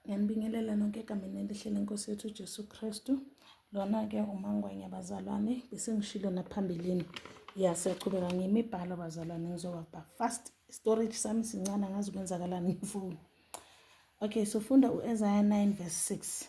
Ngiyanibingelela nonke egameni elihle lenkosi yethu uJesu Kristu. Lona-ke umangwenya bazalwane, besengishilo naphambilini. Ya siyachubeka ngimibhalo bazalwane ngizowabha fast. Storage sami sincane angazi kwenzakalani ngifuni. Okay, sofunda u-Isaiah 9 verse 6.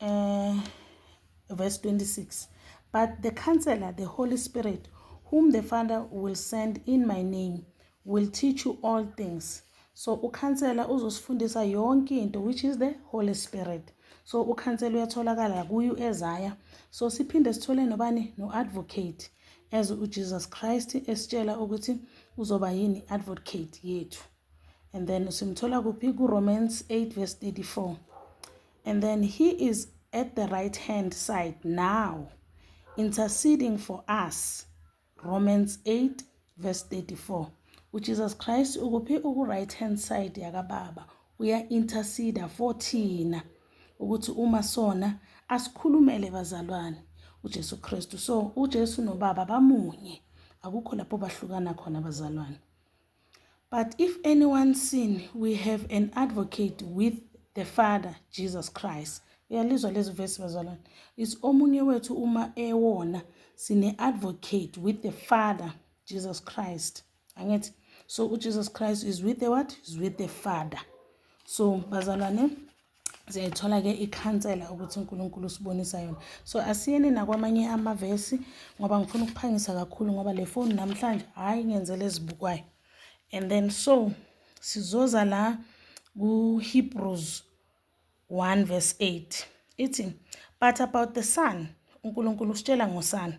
uh, verse 26 but the counselor the holy spirit whom the father will send in my name will teach you all things so ukhansela uzosifundisa yonke into which is the holy spirit so ukhansela uyatholakala kuyo ezaya so siphinde sithole nobani no-advocate as ujesus christ esitshela ukuthi uzoba yini advocate yethu and then simthola kuphi kuromans 8 verse 34 and then he is at the right hand side now interceding for us romans 8 verse 34 ujesus christ ukuphi uku-right hand side yakababa uya-interceda for thina ukuthi uma sona asikhulumele bazalwane uJesu Kristu so uJesu nobaba bamunye akukho lapho bahlukana khona bazalwane But if anyone sin, we have an advocate with the Father, Jesus Christ. Uyalizwa lezi vesi bazalwane. It's omunye wethu uma ewona sine-advocate with the Father, Jesus Christ. Angithi? So uJesus Christ is with the what? Is with the Father. So bazalwane, ziyayithola-ke ikhansela ukuthi uNkulunkulu usibonisa yona so asiyeni nakwamanye amavesi ngoba ngifuna ukuphangisa kakhulu ngoba le foni namhlanje hhayi ngenzela ezibukwayo and then so sizoza la kuHebrews 1 verse 8 ithi but about the son uNkulunkulu usitshela ngosana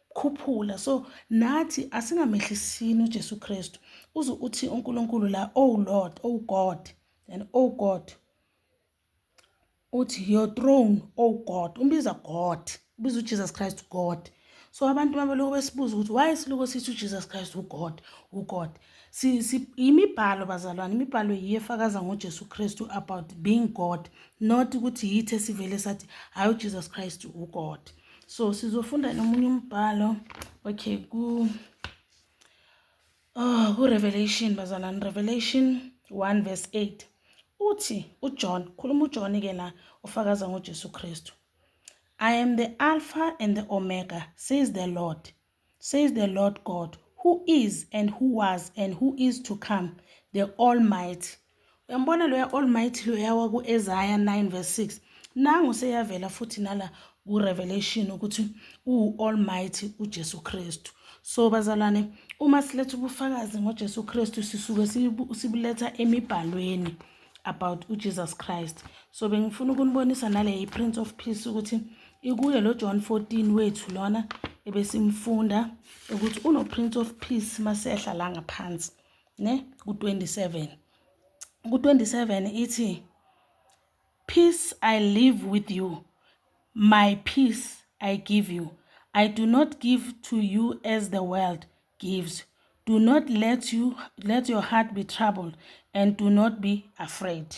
khuphula so nathi asingamehlisini uJesu Kristu uze uthi uNkulunkulu la oh Lord oh God and oh God uthi your throne oh God umbiza God ubiza uJesus Christ God so abantu mabeloku besibuza ukuthi why siloku sithi uJesus Christ uGod uGod si imibhalo bazalwane imibhalo iyefakaza ngoJesu Kristu about being God not ukuthi yithe sivele sathi hayi uJesus Christ uGod so sizofunda nomunye umbhalo okay ku oh ku-revelation bazalani revelation 1 verse 8 uthi ujohn khuluma ujohn ke la ufakaza ngojesu kristu i am the alpha and the omega says the lord Says the Lord God, who is and who was and who is to come, the Almighty. Uyambona loya Almighty loya waku-Ezaya 9 verse 6. Nangu seyavela futhi nala ku-Revelation ukuthi uwu-Almighty uJesu Kristu. So bazalwane, uma siletha ubufakazi ngoJesu Kristu sisuke sibuletha emibhalweni. about uJesus Christ. So bengifuna ukunibonisa nale iPrince of Peace ukuthi ikuye lo John 14 wethu lona ebesimfunda ukuthi uno Prince of Peace masehla la ngaphansi ne ku 27 ku 27 ithi peace I live with you my peace I give you I do not give to you as the world gives. Do not let you let your heart be troubled and do not be afraid.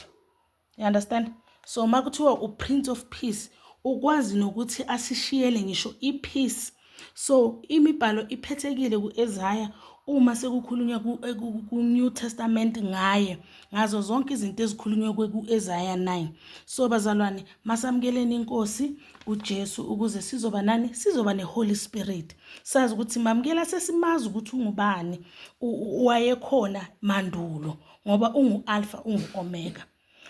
You understand? So makuthiwa u Prince of Peace ukwazi nokuthi asishiyele ngisho i peace. So imibhalo iphethekile kuEzaya uma sekukhulunywa ku-New Testament ngaye ngazo zonke izinto ezikhulunywe ku-Isaiah 9 so bazalwane masamukeleni inkosi uJesu ukuze sizoba nani sizoba neHoly Spirit sazi ukuthi mamukela sesimazi ukuthi ungubani wayekhona mandulo ngoba ungu alpha ungu omega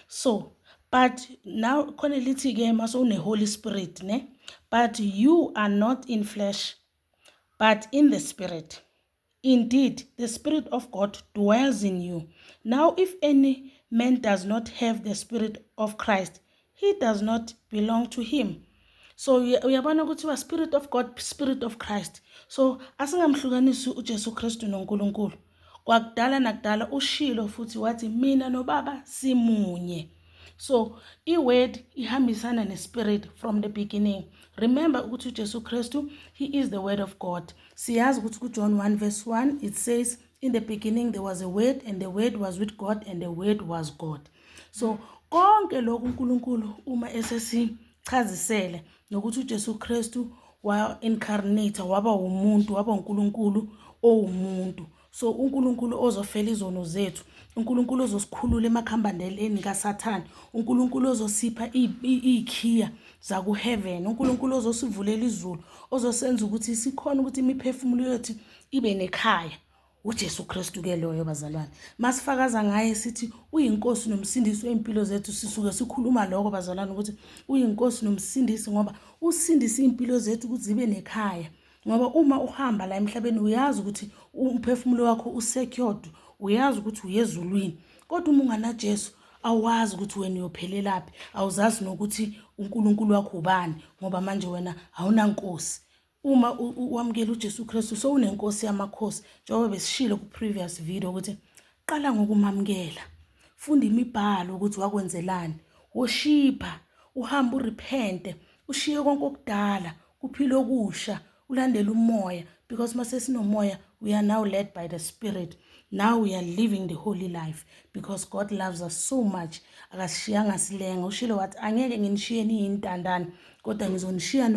so but now khona lithi ke maso une Holy Spirit ne but you are not in flesh but in the spirit Indeed, the Spirit of God dwells in you. Now, if any man does not have the Spirit of Christ, he does not belong to him. so uyabona kuthiwa spirit of god spirit of christ so asingamhlukanisi ujesu kristu nonkulunkulu kwakudala nakudala ushilo futhi wathi mina nobaba simunye so i-word ihambisana ne-spirit from the beginning remember ukuthi ujesu kristu he is the word of god siyazi ukuthi kujohn 1 verse 1 it says in the beginning there was a word and the word was with god and the word was god so konke lokhu unkulunkulu uma esesichazisele nokuthi ujesu kristu wa-incarnate waba wumuntu waba unkulunkulu owumuntu So uNkulunkulu ozofela izono zethu, uNkulunkulu ozosikhulula emakhambandeleni kaSathane, uNkulunkulu ozosipha iy'khiya zakuheaven, uNkulunkulu ozosivulela izulu, ozosenza ukuthi sikhona ukuthi imiphefumulo yethu ibe nekhaya. uJesu Kristu ke loyo bazalwane masifakaza ngaye sithi uyinkosi nomsindisi wezimpilo zethu sisuke sikhuluma lokho bazalwane ukuthi uyinkosi nomsindisi ngoba usindisa izimpilo zethu ukuthi zibe nekhaya ngoba uma uhamba la emhlabeni uyazi ukuthi umphefumulo wakho usecured uyazi ukuthi uyezulwini kodwa uma unganajesu awazi ukuthi wena uyophelelaphi awuzazi nokuthi unkulunkulu wakho ubani ngoba manje wena awunankosi uma wamukela ujesu kristu sowunenkosi yamakhosi njengoba besishilo ku-previous video ukuthi qala ngokumamukela funda imibhalo ukuthi wakwenzelani woshipha uhambe urepente ushiye konke okudala kuphila okusha ulandela umoya because uma sesinomoya we are now led by the spirit now we are living the holy life because god loves us so much akasishiyanga silenga ushilo wathi angeke nginishiyeni yintandane kodwa ngizonishiya